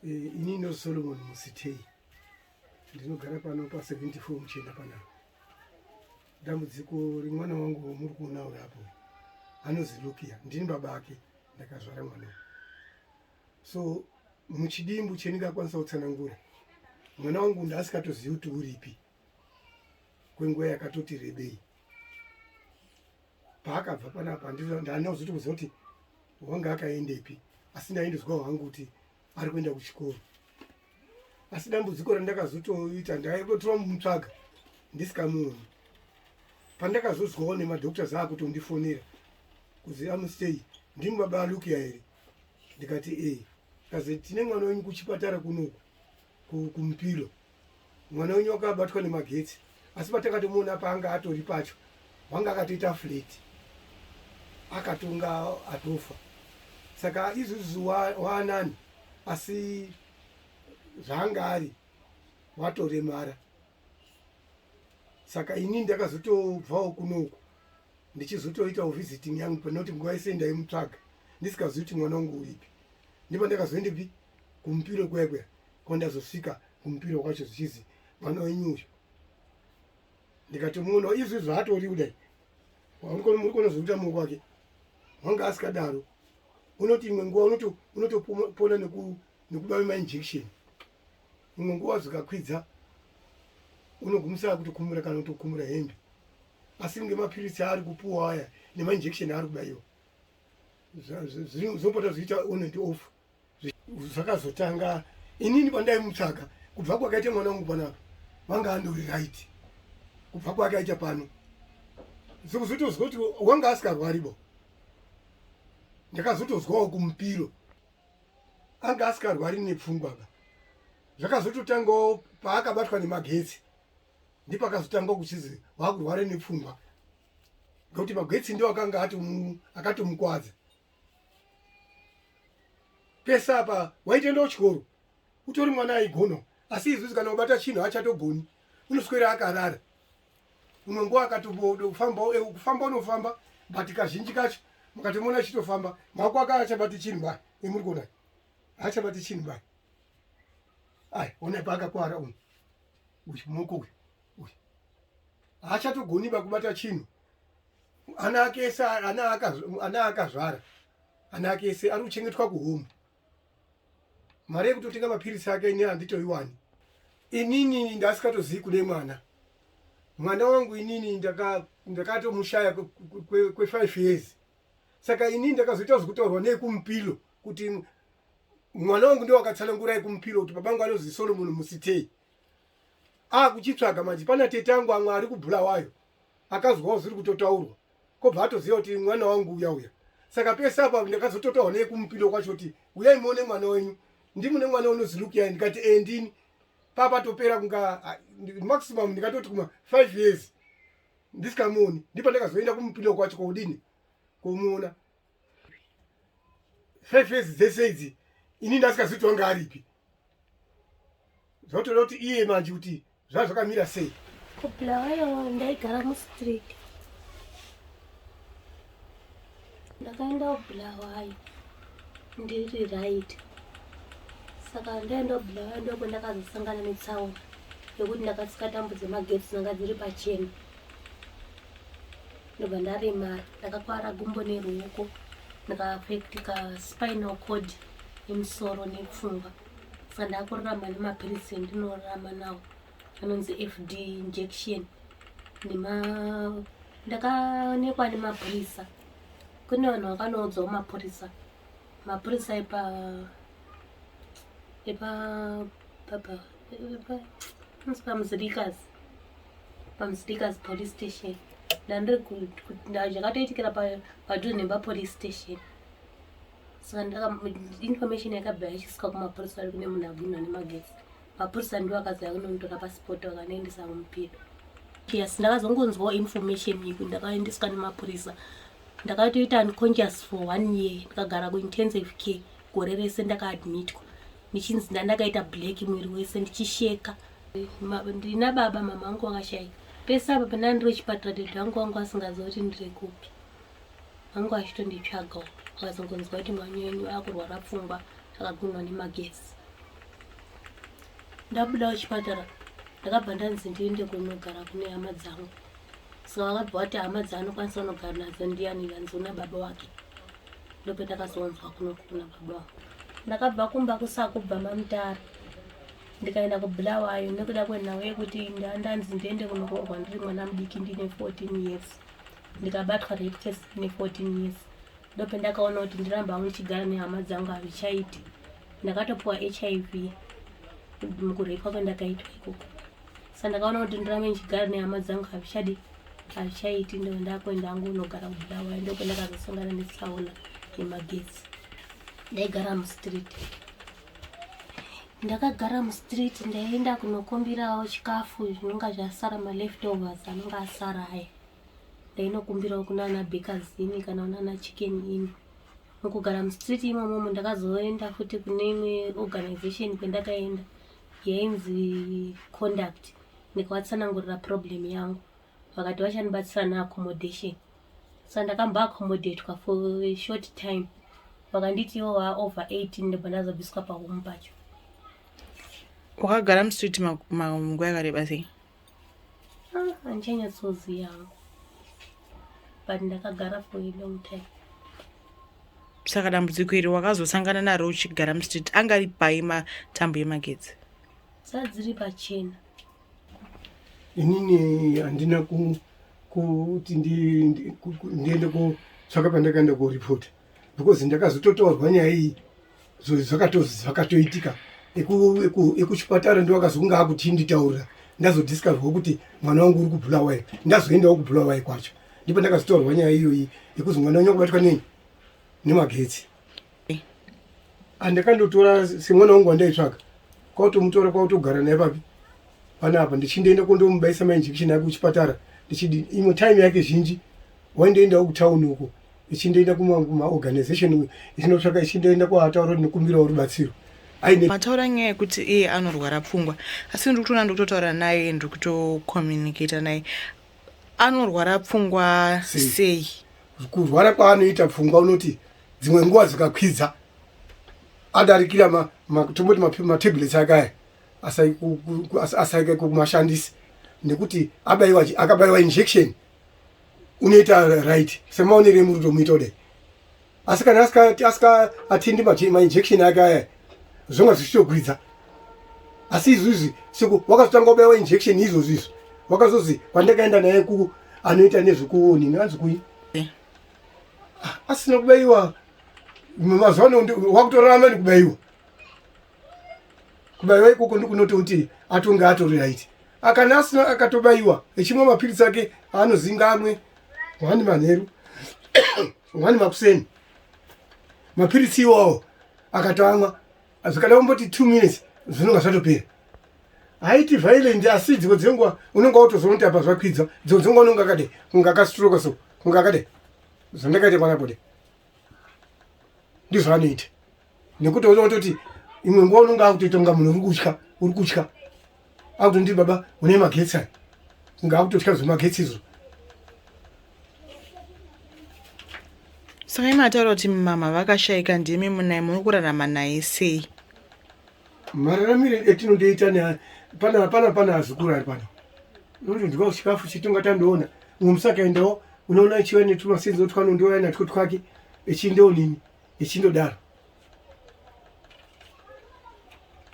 Eh, ini no Solomon Musitei ndinogara pano pa 74 muchenda panapa. Dambudziko remwana wangu muri kuona uri apo anonzi Lukia, ndini baba ake ndakazvara mwana. So muchidimbu cheningakwanisa kutsanangura mwana wangu ndaasikatozivi kuti uripi kwenguva yakatoti rebei paakabva panapa ndandina kuzoti kuziva kuti wanga akaendepi asi ndaindozwawo hangu kuti ari kuenda kuchikoro asi dambudziko randakazotoita ndaitotora mutsvaga ndisikamuoni pandakazozwawo nemadoctors aakutondifonera kuzi amustay ndimi baba alukia here ndikati ee kazi tine mwana wenyu kuchipatara kunoku kumupilo mwana wenyu wakabatwa nemagetsi asi patakatomuona paanga atori pacho wanga akatoita flat akatonga atofa saka izuzi waanani asi zvaanga ari watoremara saka ini ndakazotobvawo kunoku ndichizotoitawo visiting yangu panoti nguva yese ndaimutsvaga ndisikazivi kuti mwana wangu uripi ndipo ndakazoendepi kumupiro kuya kuya kwandazosvika kumupiro kwacho zvichizi mwana wenyu uyu ndikatomuona izvi zvaatori kudai muri konozoita mungu wake wanga asikadaro unoti imwe nguva unotopona nekubave mainjection imwe nguva zvikakwidza unogumisira kuti kumura kana kutokumura hembe asi ngemapiritsi aari kupuwa aya nemainjection aari kudaiwa zvinopota zviita on and off zvakazotanga inini pandaimutsvaga kubva kwakaita mwana wangu panapa vanga andori right kubva kwakaita pano sekuzotozwa kuti wanga asikarwaribo ndakazotozwawo kumupiro anga asikarwari nepfungwa ba zvakazototangawo paakabatwa nemagetsi ndipakazotanga kuchizi vakurware nepfungwa ngekuti magetsi ndo akanga atomukwadza pesa apa waitenda kuchikoro utori mwana aigona asi izuzi kana ubata chinhu hachatogoni unoswera akarara unongoa akatomodofamba kufamba unofamba but kazhinji kacho mukatomuona achitofamba mako aka achabati chinhu bai emuri kuona haachabati chinhu bai ai onai paakakwara uyu uyu moko uyu uyu haachatogoniba kubata chinhu ana ake ese ana akazvara ana ake ese ari kuchengetwa kuhome mari yekutotenga mapiritsi ake ini handitoiwani inini ndasikatozivi kune mwana mwana wangu inini ndakatomushaya kwefive years saka inini ndakazoita zvekutorwa nekumupilo kuti mwana wangu ndiwakatsanangura yekumupilo kuti babangu anozi solomon musitei akuchitsvaga manje pana tete angu amwe ari kubulawayo akazwawo zviri kutotaurwa kobva atoziva kuti mwana wangu uya uya saka pese apa ndakazototaurwa neye kumupindo kwacho kuti uyai muone mwana wenyu ndimune mwana unozi lukiyai ndikati e ndini papatopera kunga maximum ndikatoti kuma five years ndisikamuoni ndipo ndakazoenda kumupindo kwacho koudini komuona five years dzese idzi ini ndasikazivi kuti wanga aripi zvotoda kuti iye manje kuti zvaa zvakamira sei kubulawayo ndaigara mustreet ndakaenda kubulawayo ndiri right saka ndaenda kubulawayo ndoko ndakazosangana netsaona yekuti ndakasika tambo dzemagetsi dzanga dziri pachena ndobva ndaremara ndakakwara gumbo neruoko ndikaafectika spinal cord yemusoro nepfungwa saka ndakurarama nemapiritsi endinorarama nawo anonzi fd injection nema ndakaonekwa nemapurisa kune vanhu vakanoudzwawo mapurisa mapurisa epa epa papa pamusirikas pamusirikas police station ndandiri zvakatoitikira padhuze nepapolice station saka information yakabva yachisika kumapurisa ari kune munhu abwinwa nemagetsi mapurisa ndiwo akazaya kunomutora pasipoti vakanoendesa kumupido yes ndakazongonzwawo information yeku ndakaendeswa nemapurisa ndakatoita unconscious for one year ndikagara kuintensive care gore rese ndakaadmitwa ndichinzi ndandakaita black mwiri wese ndichisheka ndina baba mama angu vakashaika pese apa pandanga ndiri kuchipatara dede vangu vangu vasingaziva kuti ndiri kupi vangu vachitonditsvaga vakazongonzwa kuti mwana wenyu akurwara pfungwa akagunwa nemagesi ndabuda kuchipatara ndakabva ndanzi ndiende kunogara kune hama dzangu so akabva wati hama dzaanokwanisa unogara nadzo ndiyani vanzi una baba wake ndopendakazonzwa kunoku kuna baba wako ndakabva kumba kusakubva mamutara ndikaenda kubulawayo nekuda kwenhau yekuti ndandanzi ndiende kunoroorwa ndiri mwana mudiki ndine 14 years ndikabatwa rape test ndine 14 years ndopendakaona kuti ndiramba hangu ndichigara nehama dzangu hazvichaiti ndakatopiwa hiv mukurepwa kwendakaitwa ikoko sa ndakaona kuti ndirame ndichigara nehama dzangu hazvichadi hazvichaiti ndo ndakuenda angu unogara kubuda waya ndoko ndakazosangana netsaona yemagetsi ndaigara mustreet ndakagara mustreet ndaienda kunokumbirawo chikafu zvinonga zvasara maleftovers anonga asara aya ndainokumbirawo kunana bekazini kana unana chicken ini mukugara mustreet imomomo ndakazoenda futi kune imwe organization kwendakaenda yainzi conduct ndikavatsanangurira problem yangu vakati vachandibatsira neaccommodation so ndakamba accommodatwa for short time vakanditi ivo vaa over 18 ndobva ndazobviswa pahomu pacho wakagara mustreet manguva yakareba sei Ah, handichanyatsoziva hangu but ndakagara for a long time saka dambudziko iri wakazosangana naro uchigara mustreet anga ari pai matambo yemagetsi saa dziri pachena inini handina kuti ndiende kotsvaka pandakaenda koripota because ndakazototaurwa nyaya iyi zvakatoitika ekuchipatara ndo akazonga akuti nditaurira ndazodiscoverwa kuti mwana wangu uri kubulawayo ndazoendawo kubulawayo kwacho ndipo ndakazotaurwa nyaya iyoyi yekuti mwana wenyu akubatwa nei nemagetsi andakandotora semwana wangu wandaitsvaga kwautomutora kwautogara naye papi panapa ndichindoenda kondomubaisa mainjection ake kuchipatara ndichidi imwe time yake zhinji waindoendawo kutauni uko ichindoenda kumaorganization ichinotsvaka ichindoenda kwaataura kuti nikumbirawo rubatsiro mataura nyaya yekuti iye anorwara pfungwa asi ndiri kutoona ndiri kutotaura naye ndiri kutocommunicata naye anorwara pfungwa sei kurwara kwaanoita pfungwa unoti dzimwe nguva dzikakwidza adarikira tomboti matablets ake aya asaike kumashandisi nekuti akabayiwa injection unoita right semaonere emuri tomuita kudai asi kana asika atindi mainjection ake aya zvonga zvichitogwidza asi izvizvi siku wakazotanga kubaiwa injection izvozvi izvi wakazozi kwandakaenda naye ku anoita nezvekuoni nganzi kuyi eh. ah, asina kubaiwa mazuva ano wakutorarama nekubaiwa kubaiwa ikoko ndikunoti kuti atonge atori right akana asina akatobaiwa echimwa mapiritsi ake aanozinga amwe wani manheru wani makuseni mapiritsi iwawo akatoamwa zvikada kumboti two minutes zvinonga zvatopera haiti violent asi dzimwe dzenguva unonga watozoona kuti apa zvakwidza dzimwe dzenguva unonga akade kunga akastroka so kunga akade zvandakaita panapo de ndizvaanoita nekuti uno utoti imwe nguva unonge akutoita kunga munhu uri kutya uri kutya akuti ndiri baba une magetsi aya kunge akutotya zvemagetsi izvo saka imataura kuti mama vakashaika ndimi munai muri kurarama naye sei mararamire etinondoita ne pana hapana pana hazukuru ari pano unoti ndikao chikafu chitonga tandoona umwe musakaendawo unoona chiva netumasenzi otwano ndiwaya natwo twake echindewo nini ichindodaro.